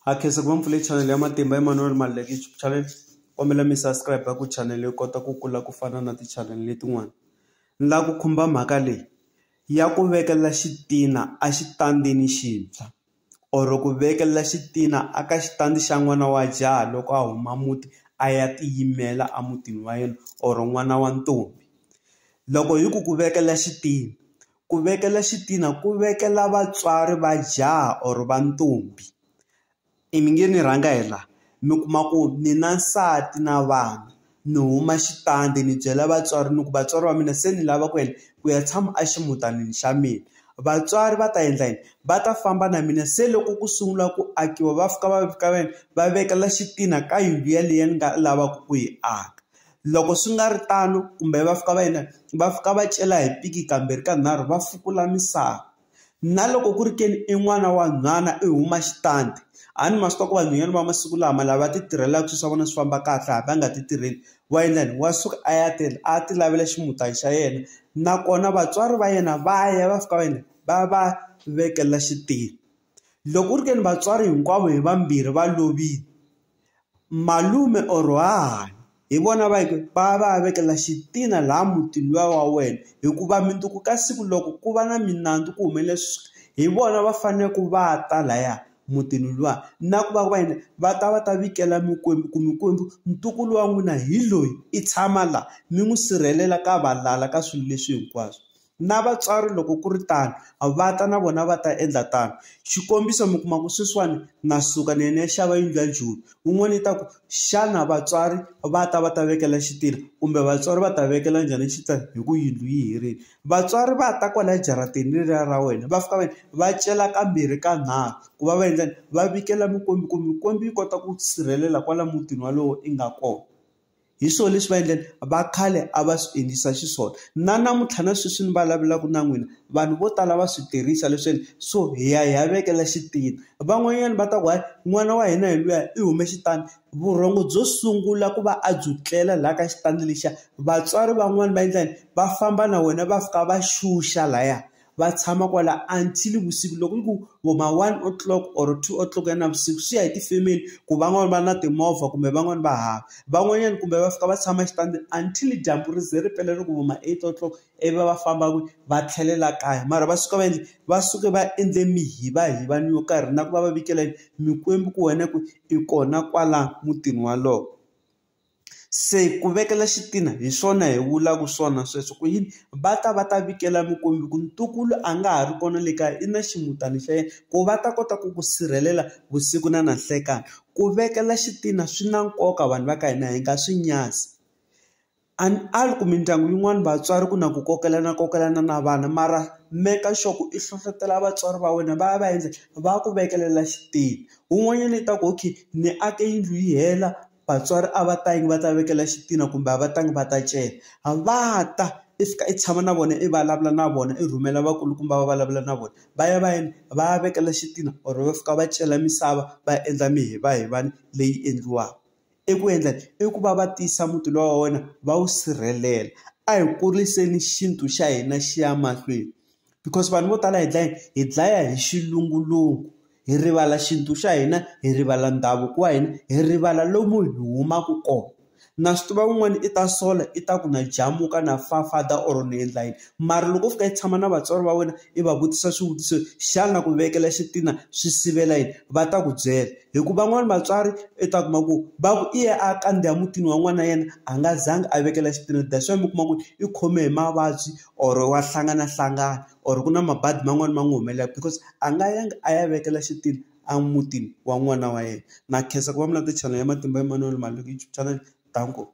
Ha khensa ku va mpfule channel ya Matimba Emanuel Maluleke YouTube channel kombela mi subscribe ku channel yi kota ku kula ku fana na ti channel letin'wana ni lava ku khumba mhaka leyi ya ku vekela xitina a xitandini xintshwa or ku vekela xitina a ka xitandi xa n'wana wa jaha loko a huma muti a ya tiyimela a mutini wa yena or n'wana wa ntombi loko hi ku ku vekela xitina. Ku vekela xitina ku vekela vatswari va jaha or va ntombi i mi nge ni rhanga hi la mi kuma ku ni na nsati na vana ni huma xitandi ni byela vatswari ni ku vatswari va mina se ni lava ku yini ku ya tshama a ximutanini xa mina vatswari va ta endla yini va ta famba na mina se loko ku sungula ku akiwa va fika va fika va yini va vekela xitina ka yindlu yaleyo ni nga lavaka ku yi aka. Loko swi nga ri tano kumbe va fika va yini va fika va cela hi piki kambirhi ka nharhu va fukula misava na loko ku ri ke ni i n'wana wa nhwana i huma xitandi a ni ma swi tiva ku vanhwanyana va masiku lama lava ti tirhelaka swilo swa vona swi famba kahle a va nga ti tirheli wa endla yini wa suka a ya tirha a ti lavela ximutana xa yena nakona vatswari va yena va ya va fika va yini va va vekela xitulu. Loko ku ri ke ni vatswari hinkwavo hi vambirhi va lovile malume or hahani hi vona va yi va va ya vekela xitina laha mutini luya wa wena hikuva mundzuku ka siku loko ku va na minandzu ku humelele hi vona va fanele ku va ta laya mutini luwa na ku va va yini va ta va ta vikela mikwembu ku mikwembu ntukulu wa n'wina hi loyi i tshama la mi n'wi sirhelela ka valala ka swilo leswi hinkwaswo. na vatswari loko ku ri tano va ta na vona va ta endla tano xikombiso mi kuma ku sweswiwani na suka ni ya ni ya xava yindlu ya joni un'wana yi ta ku xana vatswari va ta va ta vekela xitirha kumbe vatswari va ta vekela njhani xita hi ku yindlu yi herile vatswari va ta kwala jaratini leriya ra wena va fika va va cela kambirhi ka nharhu ku va va endlani va vikela mikwembu ku mikwembu yi kota ku sirhelela kwala mutini walowo i nga kona. hi swona leswi va endleni va khale a va swi endlisa xiswona na namuntlha na sweswi ni vulavulaka na n'wina vanhu vo tala va swi tirhisa leswaku so hi ya hi ya vekela xitina van'wanyana va ta ku hayi n'wana wa hina hi luya i hume xitandi vurhongo byo sungula ku va a byi tlela laha ka xitandi lexiya vatswari van'wani va endla yini va famba na wena va fika va xuxa laya. va tshama kwala until vusiku loko yi ku vo ma one o clock or two o clock ya navusiku swi ya hi ti-family ku van'wani va na timovha kumbe van'wani va hava van'wanyani kumbe va fika va tshama exitandini until dyambu ri ze ri pela loko vo ma eight o clock ivi va va famba kwihi va tlhelela kaya mara va suka va endle va suke va endle mihivahivani yo karhi na ku va va vikela yini mikwembu ku wena ku i kona kwala mutini walowo. Se ku vekela xitina hi swona hi vulaka swona sweswo ku yini va ta va ta vekela mukwembu ku ntukulu a nga ha ri kona le kaya i na ximutana xa yena ku va ta kota ku ku sirhelela vusiku na na nhlekani ku vekela xitina swi na nkoka vanhu va ka hina hi nga swi nyadzi a ni ali ku mindyangu yin'wani vatswari ku na ku kokelana kokelana na vana mara meka sure ku i hlohlotelo vatswari va wena va ya va ya endla va ku vekelela xitina wun'wanyana i ta ku okay ni ake yindlu yi hela. vatswari a va tangi va ta vekela xitina kumbe a va tangi va ta cela a va ta i fika i tshama na vona i vulavula na vona i rhumela vakulukumba va vulavula na vona va ya va ya va ya vekela xitina or va fika va cela misava va endla mihivahivana leyi endliwaka i ku endla i ku va va tiyisa muti luwa wa wena va wu sirhelela a hi kuriseleni xintu xa hina xi ya mahlweni. because vanhu vo tala hi dlaya hi dlaya hi xilungulungu hi rivala xintu xa hina hi rivala ndhavuko wa hina hi rivala lomu hi humaka kona na swi tiva un'wana i ta sola i ta ku na jamuka na fa father or ni endla yini mara loko u fika i tshama na vatswari va wena i va vutisa swivutiso xana ku vekela xitina swi sivela yini va ta ku byela hi ku van'wani vatswari i ta kuma ku va ku i ye a kandziya mutini wa n'wana yena a nga zanga a vekela xitina that's why mi kuma ku i khome hi mavabyi or wa hlanganahlangana or ku na mabadi man'wani ma n'wi humelelaku because a nga yanga a ya vekela xitulu a mutini wa n'wana wa yena na khensa ku va mi landzela channel ya Matimba Emanuel Maloyi YouTube channel danko.